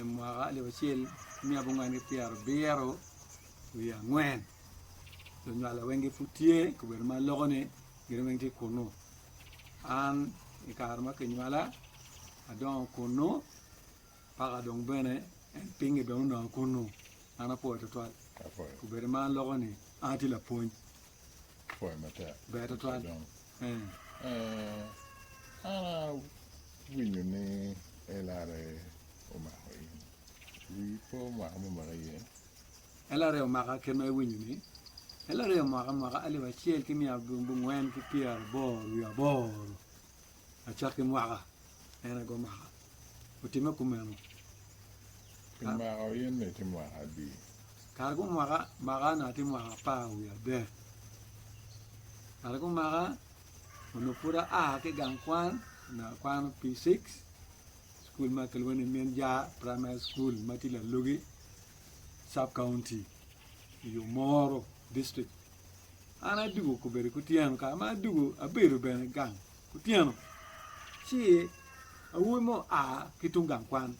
i mwaka alip acel ki miya abongwen ki pyera abiro wiye angwen lunywala weng gipud tye i kabedo ma aloko ni gin weng tye kunu an i kare ma kinywala adongo kunu paka dong bene en pinge bene onongo kunu an apuwo tutwal kabedo ma aloko ni an atye lapwony ber tutwal An awinyo ni LRA omako in. Wii pe omaka me omaka iye. LRA omaka kit ma iwinyo ni? LRA omaka mwaka alip acel ki mia abongwen ki pyeraboro wiye aboro lacok ki mwaka. En aye gumaka. Otimme kumeno. Pi mako in-ni tye mwaka adi? Kare gumaka maka-na tye mwaka apar wiye adek. Kare gumaka onongo pud aa ki i gang kwan, onongo akwano P6, cukul ma kilwongo ni Min Jar Praimari Cukul ma tye Lalogi cabkaunti i Omoro dictrict. An adwogo kobedo kutyeno, kare ma adwogo abedo bene gang. Otyeno, ci awobi mo oa ki tung gang kwan,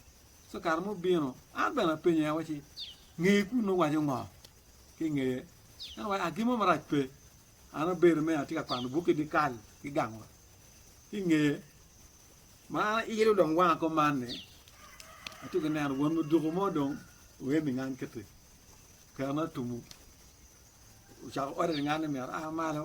ci kare ma obino, an bene apenye awacci, Ngeye kunnu owaco ngo? Ki ngeye, en owacci, A, gin mo marac pe, an abedo me atye ka kwano buk ki dyekal ki gang wa. Ki ngeye, ma an ailo dong wanga kom man-ni, atye ka neno won muduku mo dong oye ningang kiti, kerone otumo, ocako ote ningang ni myero aa malo.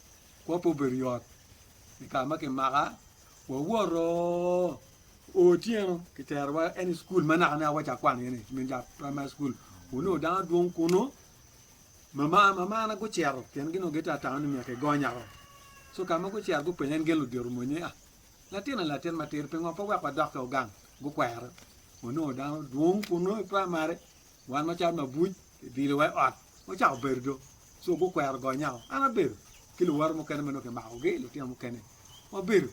kop obedo yot i kare ma kimaka wawoto otyeno kiterowa any school ma naka naka waco akwan iye ni min ja primary school onongo dano dwong kunu mama mamana gucito pien gin onongo gitye atano ni myero kigonyaro so ka ma gucito gupenya ni gin ludito mony ni ah latina latin matir pingo pe wek wadok ki ogang gukwero onongo dano dwong kunu i primary Wan macalo mabuc kidilo wa i ot, wacako bedo do, co gukwero goyo nyako. An abedo ki luwote mukene ma nongo kimakogi, lutino mukene. Wabedo,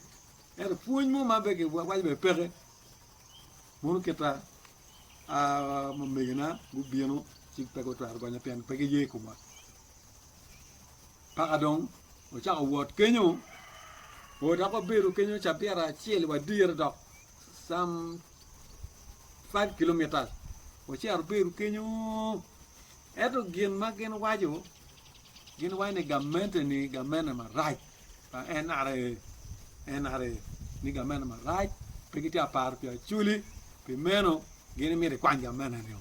ento pwony mo ma be kiwaco bene peke. Mono kita mamegona gubino ci pe gutwero gonya pien pe giye i komwa. Paka dong wacako wot kenyo, oo dok wabedo kenyo cabita acel wadire dok some 5 kilomitas wacito abiru kenyo ento gin ma gin waco gin waco ni gamente ni gamente marac pa NRA NRA ni gamente marac pe gitye ka paro pi Acoli pi meno gin myero ikwany gamente nio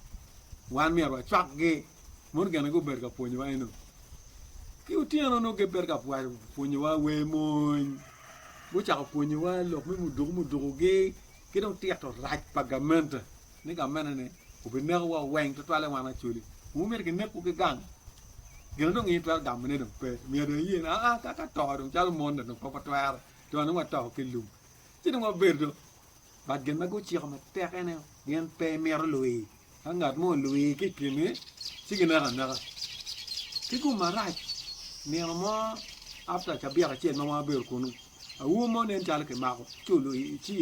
wan myero wacwakgi mono gin ma gubedo ka pwonyowa eno ki otyeno nongo gibedo ka pwonyowa wer mony gucako pwonyowa lok me muduku mudukugi Ki dong tito rac pa gamente ni gamenene obinekowa weng tutwalle wan acoli. Wun myero kinekwu ki gang. Gin dong in itwero gamone dong pe. Myero dong iye ni aa ka ka to dong calo mon dong pe watwero to dong wato ki lum. Ci dong wabedo dong ba gin ma guciko matek ene gin pe mito luyi. Ka ngat mo olwii ki i kingi, ci gineko aneka. Ki gum marac, nino mo after cabiat acel ma wan wabedo kunu, aur mo nen calo kimako ci olwii ci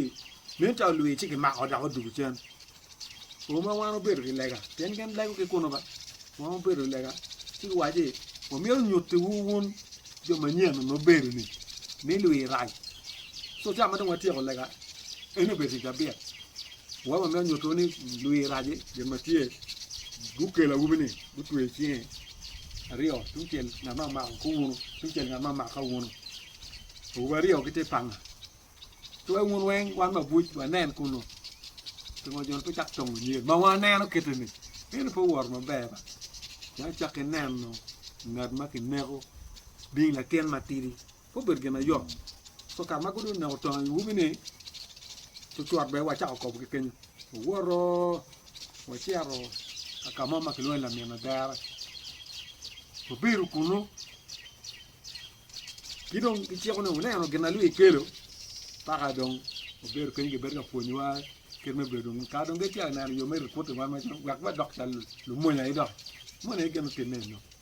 nen calo olwii ci kimako dok odwogo cen. O ma wan wabedo ki lega pien gin lego ki kunu ba, wan wabedo ki lega ci giwaco ni wamito nyutiwu wun jo manyen nongo mubedo-ni ni lwii rac. Co ca ma dong watyeko lega, en obedo tic cabiat. Wama me nyuto ni lwir raci, jo ma tye gukelo awubi-ni gutweyo cinge aryo tungcel ngat ma omako ki wunu, tungcel ngat ma omako ka wunu. Awubi aryo gitye panga. Ci wek wun weng wan ma abuc wanen kunu. Pingo jo-ni pe cako tongo nyer? Ma waneno kiti-ni, en aye pe owoto maber ba. Pien acakki neno ngat ma kineko bing latin matidi. pe obedo gin na yom. So kare ma gudong oneko tongo i umi ni, cucwot bene wacako kobo ki kenyo. Owoto, wacito ka ka mo ma kilwongo ni Lamina Dera. Wabedo kunu. Ki dong giciko ni wuneno gin na lwio ikelo. Paka dong wabedo kenyo gibedo ka pwonyowa kit me bedo dong. Ka dong gitye ka neno yo me ripoti wan wek wadok calo lumonya aye dok. Moni aye gin otimme enok.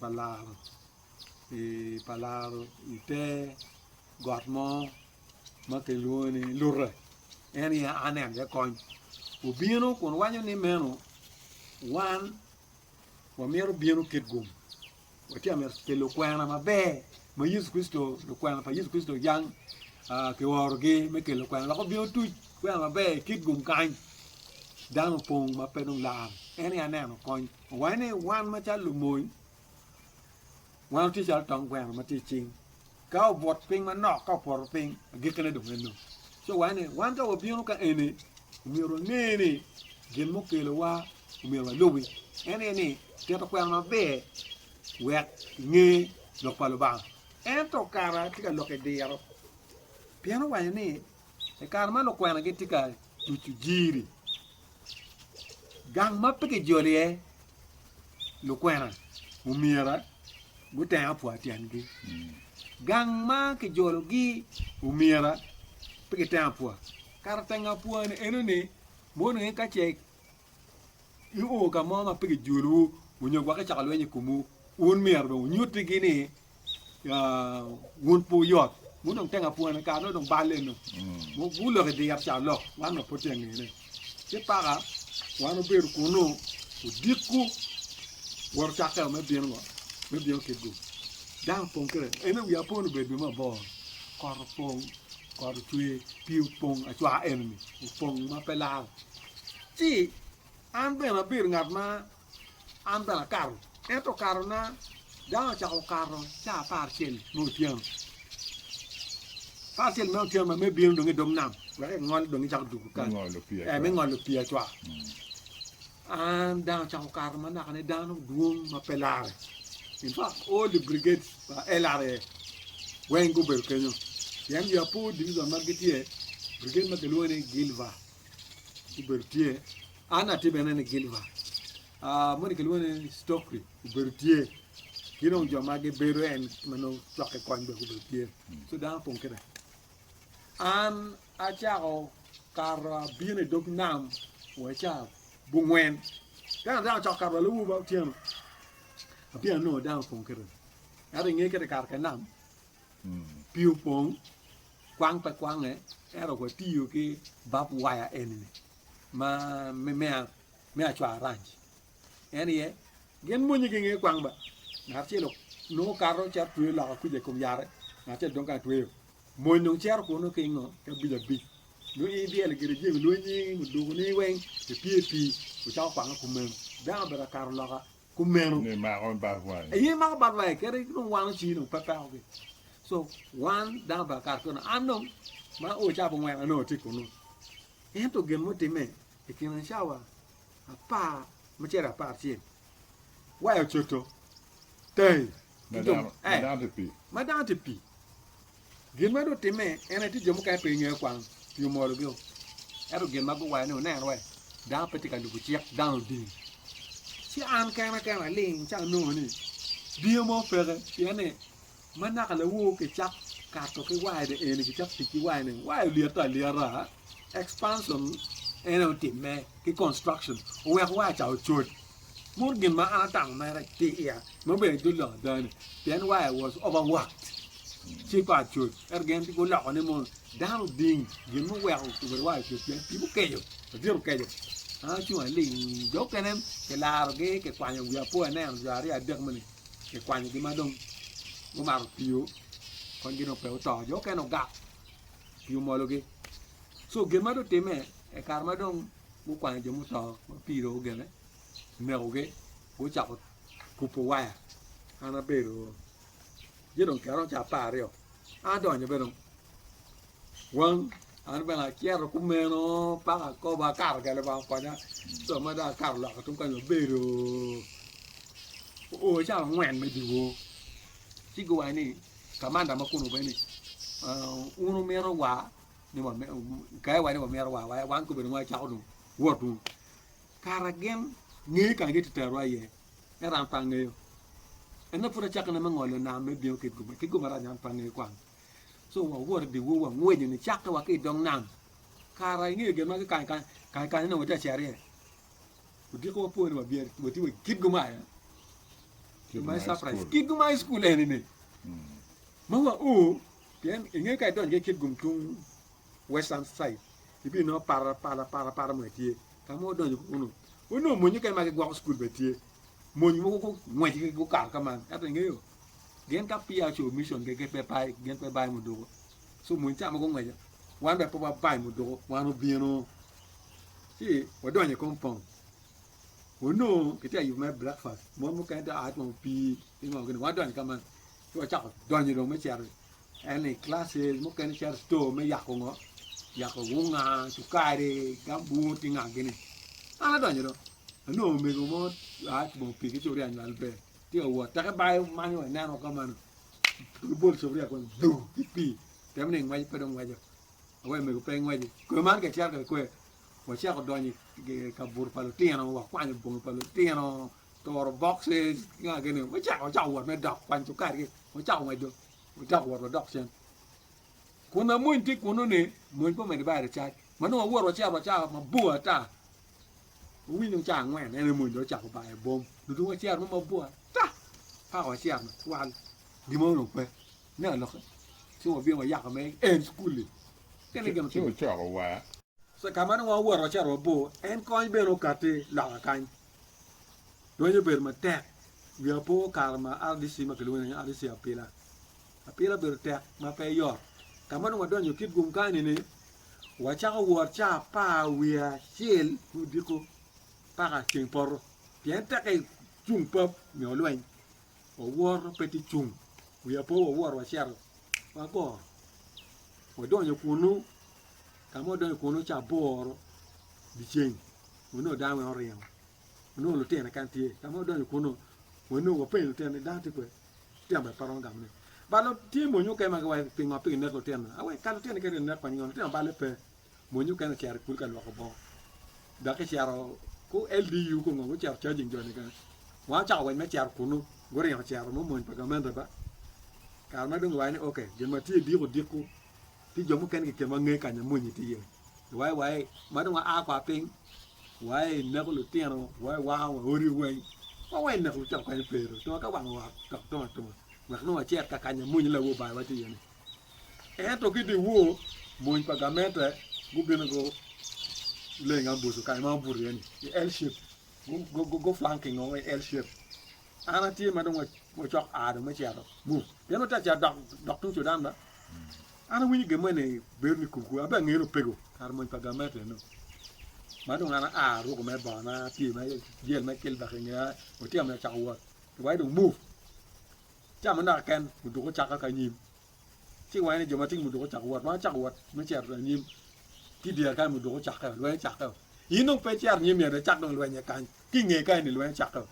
pa laro i pa laro ite got mo ma kilwongo ni lute en aye aneno iye kony obino kun waco ni meno wan wamito bino kit gum watye ka mito pi lukwena maber ma Yecu Kricito lukwena pa Yecu Kricito yang kiorogi me kelo kwena lok obino tuc kwena maber i kit gum kany dano opong ma pe dong laro en aye aneno kony Wange ni wan macalo lumony, wan watye calo tong gweno ma tye i cing, ka obwot piny manok, ka opoto piny, agikkine dong eno. Ci wange ni wan ka wabino ka eni, omyero wange ni gin mukelowa omyero walubi, en aye ni tito kwena maber wek inge lok pa Lubanga. Ento kara tye ka lok i diro, pien owaco ni i kare ma lukwena gitye ka tucu jiri, Gang ma pe kijolo iye lukwena omyera guteng apwa tyengi. Gang ma kijologi omyera pe giteng apwa. Kara teng apwa-ni enoni mono ni ka ce io ka mo ma pe kijolowu onyo gwok icoko lweny i komwu, wun myero dong wunyutigi ni wun pe wuyot wun dong tenga pwone kare no dong balle no gulok idir ca lok wan dong pud tye angene ci paka wan obedo kunu odikku woro cakeo me bino ngo me bino kitgu dang opong kire ene wi apon obedo bene mabor kot opong kot ocwe pii opong acwa enini opong ma pe lal ci an bene abedo ngat ma An bene akato, ento katona dano ocako okato caa apar cel me otyeno. Apar cel me otyeno ma me bino dong i dog nam wek engol dong ecako dugo kal, ee me ngolo pii acwa. An dano ocako okato ma naka ne dano dwong ma pe lare. In fact all the brigade pa LRA weng gubedo kenyo pien jo apo divizon ma gitye brigade ma kilwongo ni Gilva. obedo tye, an atye bene ni Gilva, uh, moni kilwongo ni Stokri obedo tye, ki dong jo ma gibedo en ma nongo cwakke kony bene obedo tye, so dano pong keda. An acako kato abino i dog nam wa ca bungwen, kena dano acako kato wa lawuba otyeno, abino anongo dano pong keda, ento inge keda kato ka nam, hmm. pii opong, Kwang pe kwange, ento watiyo ki bab waya eni-ni ma me acwaranj. En aye, gin monnye ki nge kwang ba. Ngat acel nongo kato cito tweyo loka kuca i kom yare, ngat acel dong kany tweyo. Mony dong cito kunnu ki ngo? Ki abic abic. Nongo in ibyelo gire jami lweny-nyi, mudugoni weng, ipye i pii, wucako kwange kumeno. Dano obedo ka kato loka kumeno ni imako bad wangi aye imako bad wangi kadi dong wano ci dong pe peko gi so wan dano pa kare kono an dong ma o cawa bongwen an dong atye kunu ento gin mutime i kina cawa apar macere apar cel waya ocoto tayi madano eh, madano te pi madano te pi Gin ma dong timme en aye tye jo mukene pe gingeyo kwang pi omorogi o. Ento gin ma guwaco ni wunen wai dako pe tye ka lubo cik dang oding. Ci an kena kena aling ci anongo ni diyo mo peke pien ni ma naka lawowo kicak kato ki wide eni kicak tic ki wide ni wai olyete alyeta expansion en aye otimme ki construction oweko wai ca ocod Mot gin ma an atamo mere ki iya me obedo dul lok dano pien wa I was over worked ci pa coc ento gin guloko ni mono dano oding gin muweko obedo wa I coc pien tipo keco ladyet okeco an acung aling jo mukene kilaro gi kikwanyo gi apo aneno jo aryo adek moni kikwanyo gi madong gumato tiyo kong gin dong pe guto jo mukene ogak pii omolo gi so gin madong time I kare madong gukwanyo jo muto ma pii dong ogene onekogi gucako kubo waya an abedo ci dong kine romo caa apar aryo an adonyo bene weng an bene acito kumeno paka akobo akato ka lubanga okonya co ma dong akato loka tung kany abedo oo cawa angwen me dyewor ci guwaco ni kamanda ma kunu bene ni wun wumito wa ni kaye wa ni wamito wa wan kobene wacako dong wot dong kara gin ngeyo kara gin tye tero wa iye ento an pe angeyo ene pud acako ne me ngolo nam me bino ki guma ki guma rani an pe angeyo kwang so wa wot i di wor wa ngwinyo ni cake wa ki i dog nam kara ingeyo gin ma kikany kany kany kany ni watye aceri iye odiko wa pore wa byer watye wa kit guma aye my surprise kit guma high school eni ni ma wa o Pien i nge ka idonyo ki kit gum tung western side, ibino nongo para para para para mogo tye. Ka ma odonyo kunu, onongo mony mukene ma gigwoko cukul bene tye. Mony mogo gungwec gukato ka man. Ento ingeyo, gin ka peya ocobo mission gin pe bay, gin pe bay muduku. So mony ca ma gungweco, wan bene pe wabay muduku, wan obino ci wadonyo i compound. Onongo kitye ka yubo mere breakfast, mon mukene tye ka a twongo pii ki ngo gini, wadonyo ka man. ci wacako donyo dong me cito en i classes mukene cito store me yako ngo yako wunga cukari gambut ki nga gini an adonyo dong anongo omego mo a kibongo pige ci oryanyo al ber tye ka wot teke bayo manyo wa ineno ka mano lubol cobria kong du ki pii temo ni ingweco pe dong ngweco awe omego pe ingweci kwe man ka icito kede kwe wacako donyo i kabuto pa lutino wakwanyo bongi pa lutino toro bokce ki nga kene ni wacako acako wot me dok kwany cukari gi wacako ngweco wacako wot wadok cen kun amony tye kunu ni mony pe omede bade cac ma nongo awoto wacito wacako mabor ata wawinyo ca angwen ene mony dong ocako bayo bom dong wacito mo mabor ata paka wacito matwal gin mo dong pe ne alokke ci wabino wayako me en cukul-li kene gin Ci otimo wucoko wa. Kama nongo wawoto wacito mabor en kony bene okatti loka kany Dwanye obedo matek wi apo kare ma RDC ma kilwongo ni RDC apila. Apila obedo tek ma pe yot. Ka ma dong wadonyo kit gum kany ni wacako wot ca apar wiye acel ki odiko paka ceng poto pien teke cung pap nyo lweny wawoto pe ti cung wi apo wawoto wacito wagoro wadonyo kunu ka ma wadonyo kunu ca aboro dyeceng onongo dano weng oringo onongo lutino keken tye ka ma odonyo kunu wa nongo wapenyo lutino ni dano tye kwede lutino bene pe romo gamo ne balo tye mony mukene ma giwaco pingo pe ginek lutino awe ka lutino keken ginek kwanyi ngo lutino balle pe mony mukene ocito i kulu ka lwoko bongo dok ecito ku LDU ku ngo gucito charging joni keken wa ocako weny me cito kunu guringo cito mo mony pa gamente ba kare ma dong giwaco ni ok gin ma tye diko dikwu Tye jo mukene ki i kinwa nge kanya mony tye iye, waye waye ma dong waa kwa piny, waye i neko lutino, waye waka wa odi weng, wa waye i neko lutino kany pe ru tunga ka wanga wa tok tung atunga wek nongo wacit ka kanya mony nyo lawo Obayiwa tye iye-ni. Ento ki dyewor, mony pa gamente gubino guleng ambuco kanya ma wabuto iye-ni, i L shape, guflank ki ngongo i L shape. An atye ma dong wacok a dong me cito mu, pien watye ka cito dok tung Cudan ma. An awinyo gin mene bero ni kumku abe angeyo ni opego kare mony pa gamet eno ma dong an aa aruko me bongona apye me jel me kilbak ingeya otyeno myero acako wot wai dong move camo naka ken muduka ocaka ki anyim ci iwanyo ni jo ma tye ki muduka ocako wot wang acako wot me cito anyim ki dyere kany muduka ocakkeo lweny ocakkeo in dong pe icito anyim myero icak dong lweny kany Ki i ngeye kany-ni lweny ocakke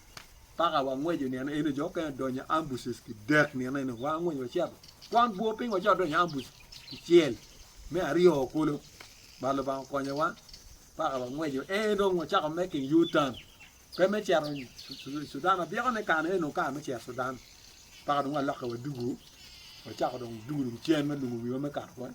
ma ka wangweco nino eno, jo mukene odonyo i ambush ki dek nino eno. Wan wangweco wacito, twang bwo piny wacito wadonyo i ambush kicel. Me aryo kulu, bad Lubanga okonyowa ma ka wangweco eno dong wacako making U-turn, pe me cito Cudan. Abyekone kare-ni onongo kare me cito Cudan, ma ka dong walokke wadugu, wacako dong dugu dong cen ma lungo wiwa me kato kony.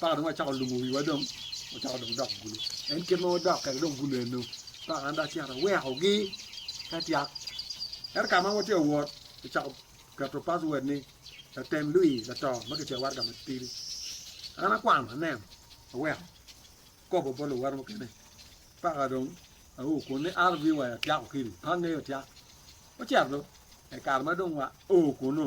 paka dong wacako lumo wiwa dong wacako dong dok gulo en kit ma wadok kede dong gulo eno paka an dong acito awekogi ka tyak ento ka ma watye awot kicako keto password ni latem lwii lato ma kicweyo waraga matidi an akwano aneno aweko akobo bot luwote mukene paka dong ao kun ni RV wa atyako kidi pe angeyo tyak ocito dong e kare ma dong wa o kunu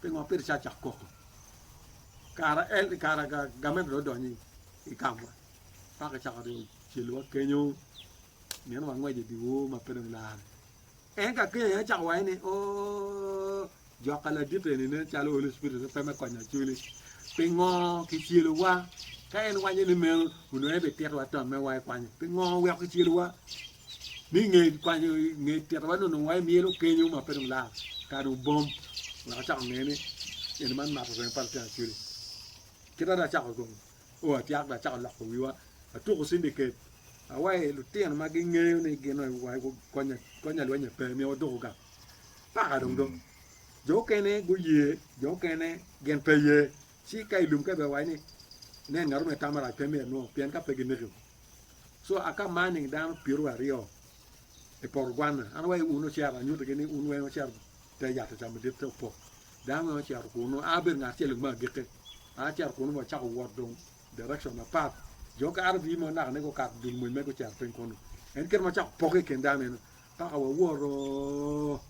Pingo pe icacok koko kara en kara gamen dong odonyo i kamwa paka cako dong ocelwa kenyo mito wangwec i dyewor ma pe dong lare en ka kenya aye cako waye ni oo joka ladit eni nen calo Holy Spirit pe me konyo acwili pingo kicelowa ka en waco ni meno onongo en bititowa tomme wa i kwanyo pingo weko kicelowa ni nge kwanyo nge tito wa nono wa myelo kenyo ma pe dong lal ka dong bom wa chako nge ni en man mato rem pa lutino chuli kita da chako gong o atiak da chako loko wiwa atuko sindi ket awa e lutino ma gi nge ni gino wa konya konya lwenye pe mi oduko ga paka dong dong jo kene gu ye jo kene gen pe ye si ka ilum ka be wa ni ne ngaro me tamara pe me no pien ka pe gi niki So aka mar nining dano pyeru aryo i poto gwanna? An awayo un ocito, anyuto gi ni un weng ocito te yat ocamo madit te opok. Dano weng ocito kunu, a abedo ngat acel me agike, a acito kunu me acako wot dong direction apat. Jo ka RV mo naka ne gukato dul mony me gucito piny kunu. En kit ma cako poke i kin dano eno, paka waworo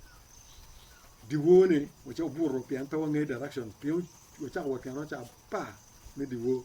diwor ni wace obuto pien pe wangeyo direction, pien wacako wot kene oca apar me diwor.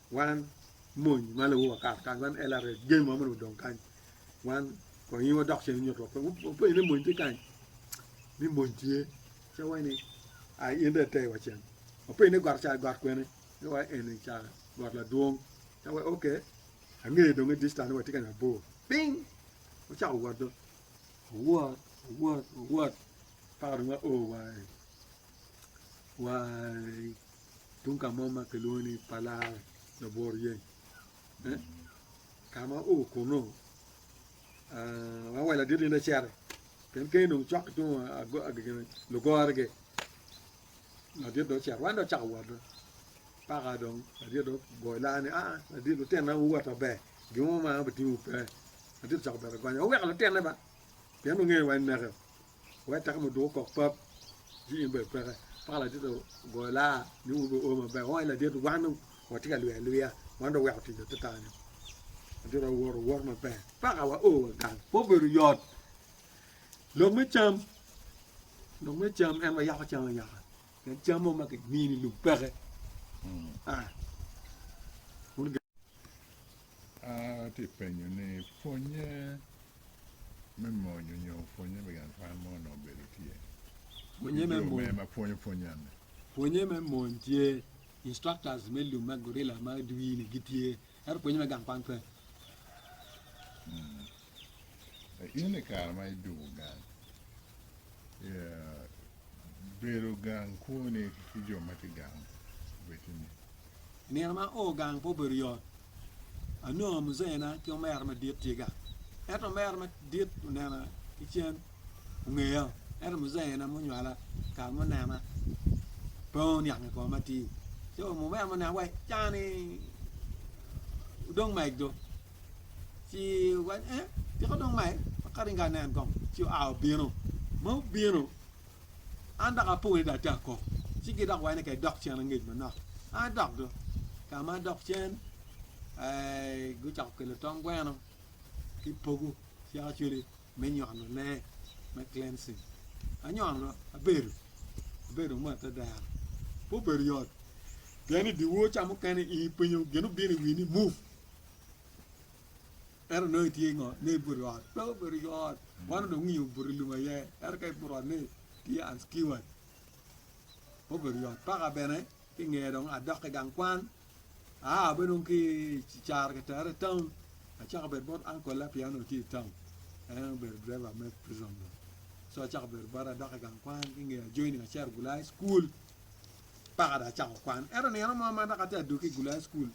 Wan mony ma lubo wakar kany wan LRA game wa mene odong kany wan kong in wadok cen nyot wa wapenyo ni mony tye kany ni mony tye ce wai ni ai in de te wa cen wapenyo ni got ca got kwene ce wai eni ca got ladwong ce wai ok angeyo dong i distan ni watye ka mabor ping wacako wot do wot wot wot paka dong wa o wai wai tung ka mo ma kilwongo ni Palare labwor yeny eh, ka ma o kono ah, wa wela dit ninde cere ken ken dong cok tung agege lugore ge ladit do cere wan do cako wot do paka dong ladit do goyo laa ni ah ladit lutena wuwota ber gimo ma bitingo pe ladit cako bere gonyo oweko lutene ba pien ongeyo wa neke Wek taka muduku kok pap ji in bene peke paka ladit ogoyo laa ni un bene o maber onge ladit wan dong watye ka lwia lwia wan dong weko tic atata ni ladit owoto owot maber paka wa o wagang pe obedo yot lok me cam lok me cam en wa yako cam ayaka en cam mo ma kimini lum peke hmm. ah. Atye penyo ni pwonye me mony onyo pwonye me gang kwan mo onongo obedo tye? Pwonye me mony. Jo me ma pwonyo pwony ane. Pwonye me mony tye, instructors me lum me gorilla ma dwi ni gitye, ento pwonye me gang kwan pe. In i kare ma iduku gang, bedo gang kwoni ki jo ma tye gang obed ni? I nino ma o gang pe obedo yot. Anongo muzeena ki omera madit tye gang. Ento omera madit onena ki cen, ongeya, ento muzeena munywala kare munena pe oniang i koma atir. Co omera munena wa ca ni odong mego. Ci owaco ni, 'Ee, tika dong mai? Aka ringo anen kong? Ci oa obino. Ma obino, an dok apo ni dong ate ako. Ci gidok waco ni, 'Ka idok cen angec manok. An adok dong. Ka ma adok cen, gucako kelo tong gweno ki pogo cik acweli me nyono lee, me cleansing. Anyono, abedo, abedo mo atadero. Pe obedo yot. Pien i dye wor ca mukene in ipwinyo gin obino i wi ni move. Ento nongo itye i ngot nongo ibuto i ot pe obedo i ot wan onongo winyo obuto i lum aye ento ka ibuto i ot nongo itye unsecured pe obedo i ot paka bene ki nge dong adok ki gang kwan aa bene dong ki caro ki tere i taun acako bedo bot uncle na pien onongo tye i taun en aye obedo driver me prison dong so acako bedo bot adok i gang kwan ki nge ajoining acero gulaya i cukul paka dong acako kwan ento nino mo ma dok atye adwogi i gulaya i cukul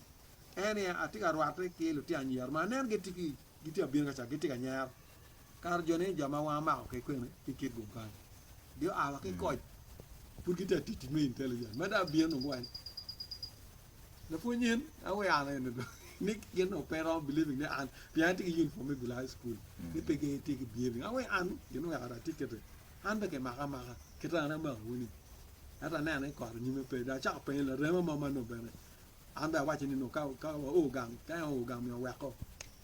en aye atye ka rwatte ki lutino anyira ma aneno gitye ki gitye abino kaca gitye ka nyero kato jo ni jo ma wanga mako ki kwene ki kit gum kany gio awa ki koc pud gitye atic tic me intelligent ma dong abino nongo wai lapwony nyen an we an ene dong ni gin dong pe romo believing ni an pien atye ki uniform me bilo high school ni pe gin itye ki behaving an we an gin weko ada atic kiti an be kimaka amaka kit an amako wini ento aneno ni kot onyime pe dong acako penyo larema mo ma nongo bene An bene awaco ni nongo ka ka waoo gang, ka en oo gang myero owekko.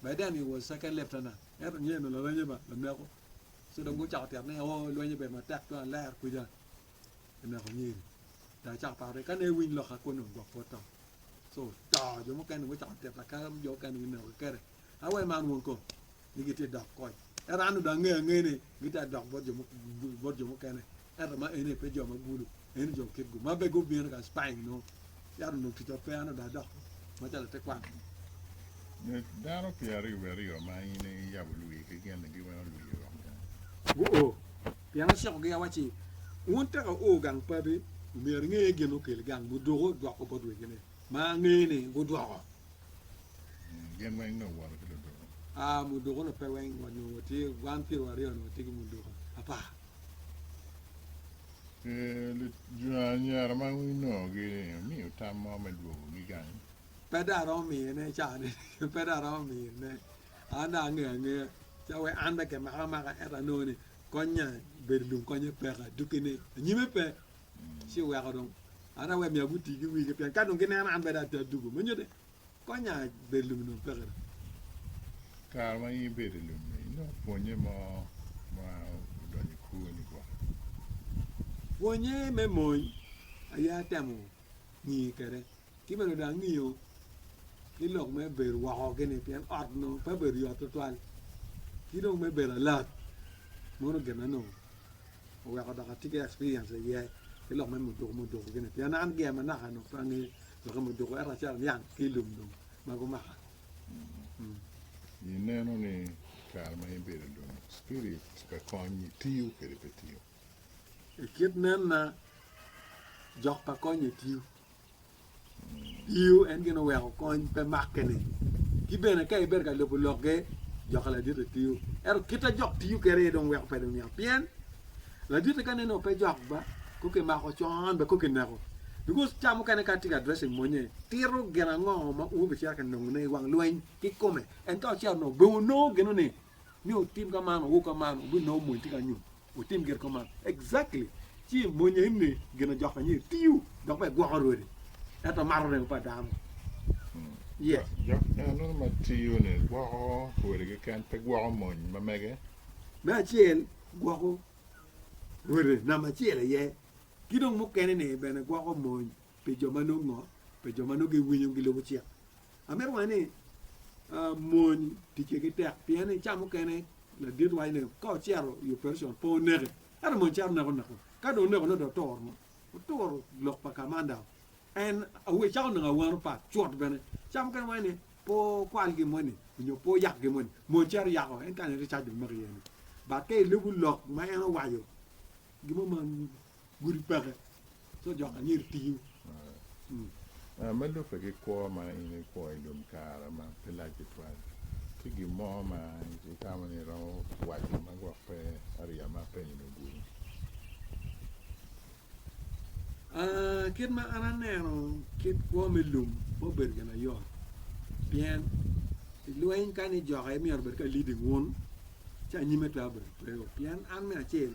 By then he was second lieutenant, ento niyeni dong laranye ba laneko. So dong gucako tyero ni oo lweny obedo matek tung aler kwica kineko nyiri. Dong acako paro ni kane ewiny loka kwon dong gwok pe oto. So to jo mukene dong gucako tyero laka jo mukene dong gineko kikere. Awer man wun ko? ni gitye ka dok kony. Ento an odong angeyo angeya ni gitye ka dok bot jo mukene, ento ma eni pe jo ma gulu, eni jo kitgu ma bene gubino ka Spain nongo yat onongo ticwa pe, an odong adok macalo latekwaro. Nyuc dano pyeraryo wiye aryo ma in iyabo lwigi gin ni giweko lwigi rok gang. Guo, pien acikogi awacci, Wun tek wuo gang pabi, omyero inge gin ma okeli gang muduku dwoko bot wegine. Ma angeyo ni gudwoko. Gin weng nongo owoto ki luduku. Aa, muduku-nu pe weng, wa nongo watye wan pire waryo-ni watye ki muduku apar. Pi anyira ma wunongogi, wumiyo tam mo me dwogogi gang? Pe dong aromo miyone caa-ni, pe dong aromo miyone. An dong angeyo angeya ca wek an dong kimaka amaka, ento anongo ni konnya obedo lung konnya peka, dukki ni anyime pe ci oweko dong an awe myero guti ki wigi pien ka dong gineno an bene ati adugo me nyutte konya bedo lum onongo peke dong. Kare ma in ibedo i lum-mi, inongo pwonye mo ma odonyo i kwoni gwok? Pwonye me mony aye atemo ngiyo kwede Ki bene dong angiyo ki lok me bedo woko-ni, pien ot onongo pe obedo yot twatwal, ki dong me bedo alat. Mono gin ma onongo oweko dok atye ki experience iye ki lok me muduku muduku gini, pien an gia manaka onongo pe angeyo lok me muduku ento acito aniang ki i lum dong ma gumaka. Ineno ni kare ma in ibedo i lum spirit pe konyi tiyo kadi pe tiyo? I kit nenna, jok pa konye tiyo. Iyo, en gin oweko kony pe make ni. Ki bene ka ibedo ka lubo lokge, jokka laditte tiyo. Ento kit a jok tiyo kede aye dong weko pe dong niang. Pien laditte ka neno pe jok ba, ko ki mako con be ko ki neko. Because ca mukene ka tye ka addressing monye, tito gin ango ma un wubicito ka nongo ne i wang lweny ki kome. En ka ocito nongo, be wunongo gino ni, ni otim ka man, owor ka man, wubinongo mony tye ka nyut. Wutim gin kong man. Exactly. Ci i mony eni ginojok anyir tiyo dok bene gwoko rwodi. Ento mato remo pa dano. Yes. Jok eno ma tiyo ni gwoko rwodi keken pe gwoko mony ma mege. Me acel gwoko rwode namba acel aye. Ki dong mukene ni bene gwoko mony pi jo ma nongo pi jo ma nongo giwinyo gilubo cik. Amito waco ni mony ticce ki tek pien ni ca mukene ladit waco ni ka ocito i operation pe oneke ento mony cito neko neko ka dong oneko ne dong oturo oturo lok pa kamanda en awe cako nongo awano pat cut bene ca mukene waco ni pe okwal gin moni nyo pe oyak gin moni mony cito yako en kane ricac dong maki iye ni but ka ilubo lok ma en owaco gin mo ma gudi peke so jok anyir tiyo. Aa, me lubbe ki kwo ma in ikwo i lum kare ma pe lac tutwal, tye gin mo ma itamo ni iromo waco ma gwok pe ariya ma apenyo-ni ogure? Aa, kit ma an aneno kit kwo me lum pe obedo gin mayot, pien i lweny ka ni jokke myero obed ka leading wun, ci anyime twero bedo tweo, pien an me acel,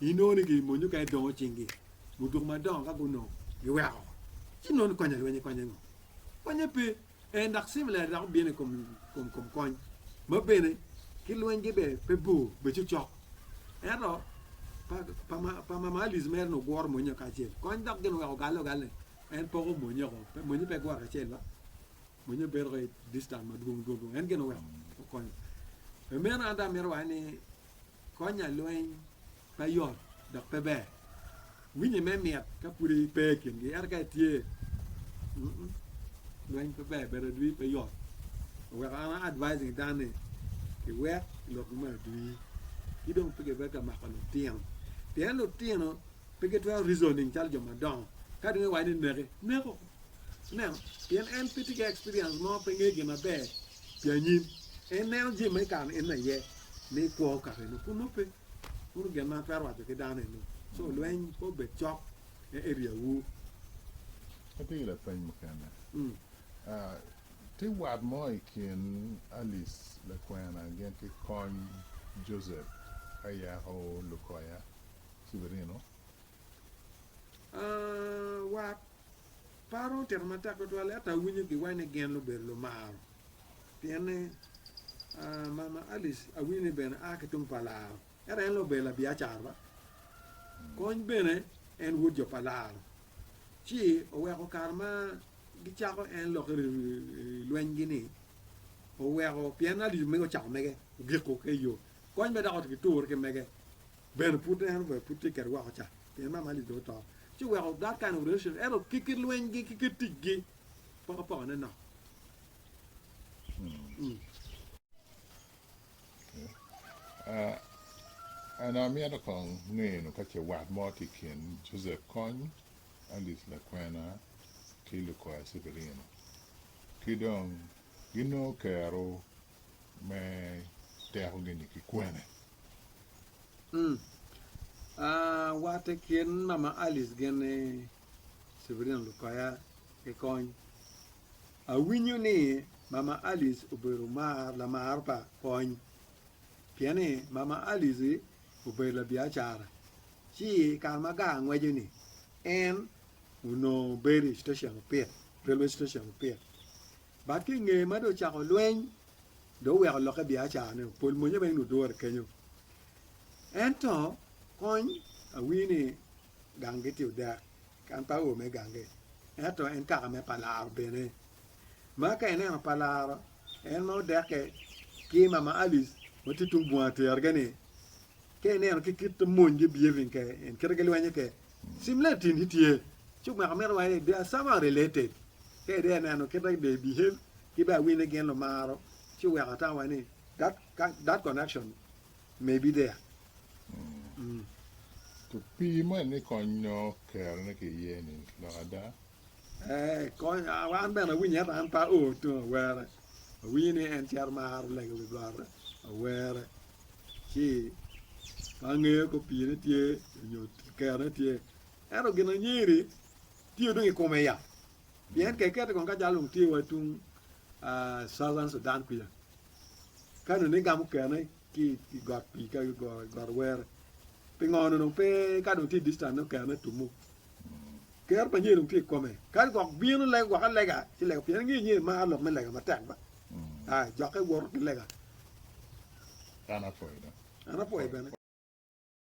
Inongo ni gin mony mukene dongo cingi, muduku madongo ka gunongo giweko oko. Ci nongo ni konyo alwenye konye ngo? Konye pe. En dok civil air dok obino i kom kony ma bene ki lwenygi bene pe bor bene cokcok. Ento pa Mamalis mere ni oguro monye kacel kony dok gin oweko ogalle ogalle en poko monye oko. Monye pe guro kacel ba monye obedo ko i distance madwong dwong en gin oweko okonyo. Pi meno an dong amito waci ni Konya lweny pe yot dok pe ber. Winyi me mit ka pudi ipe i kingi ento ka itye lweny pe ber bedo adwi pe yot. Oweko an a advising dan ni kiwek lok ma adwi ki dong pe kibe ka mako lutino pien lutino pe gitwero reasoning calo jo madongo ka dong iwaco ni neke neko ineno pien en pe tye ki experience mo pe nge gin maber pi anyim en neno jami ma ikano en aye ni kwo okako eno pud nongo pe pud gin ma atwero waco ki dano eno so lweny pe obed cok e area wu. Atye ki lapeny mukene. Tye wat mo i kin Alice lakwena gin ki kony Joseph Ayako Lukoya Cibirino? Wat pa dong otito matek tutwal ento awinyo giwaco ni gin lubedo lumaro Pien ni, Mama Alice awinyo ni bene a ki tung pa Laro, ento en lube labiacara ba. Kony bene en wod jo pa Laro, ci oweko kare ma gicako en lok i lwenygi-ni oweko pien Alice omege ocako mege ogiko ki iyo. Kony bene dok otye ki tur ki mege bene pud en obene pud tye kede woko ca pien Mama Alice dong oto. Ci oweko dok kane orecion ento ki kit lwenygi ki kit ticgi pokopokone nok. An amito kong ngeno ka ce wat mo tye i kin Joseph Kony, Alice Lakwena, ki Lukoya Severino, ki dong ginongo kero me tekogi-ni ki kwene? Wat i kin mama Alice gin ni. Civilian Lupaya ki kony. Awinyo ni Mama Alice obedo mar lamar pa kony. Pien ni Mama Alice obedo labiacara, ci kare ma gar ngweco ni en onongo bedo i station opit, railway station opit. But ki nge ma do cako lweny, do weko loke biacara ne, pol monye bene nudure kenyo. Ento kony awinyo ni ganggi tye odek, kan pa awo me ganggi. Ento en kaka me pa laro bene. Ma ka ineno pa laro, en ma odekke ki mama Alice ma tye tung bunga tergi ni, ka ineno ki kit monygi behaving ke, en kite gilwenyo ke, similarities tye. Ci omako meno wa ni they are somehow related. Ka ide aneno kite they behave ki bene awinyo ni gin lumaro, ci weko atamo wa ni that, that connection Maybe there. Mm. To pii man ni kony nongo kero ne ki iye ni lok ada. Eh, kony an bene awinyo ento an pa o to awere. Awinyo ni en cero maro lego wi got awere. Ci pa angeyo ko pii ne tye nyo kero ne tye. Ento gin anyeri tye dong i kome ya. Pien keket kong ka jalo tye wa tung uh, Southern Sudan kuya. Ka nongo igamo okene ki i got pii ka got owere, pingo nongo pe ka dong tye i distance okene tummu? Ker pa nyer dong tye i kome. Ka gwok bino lego gwok alega ci lego pien ingeyo nyer maro lok me lega matek ba. Ai, jokke woto ki lega. An apwoyi dong. An apwoyi bene.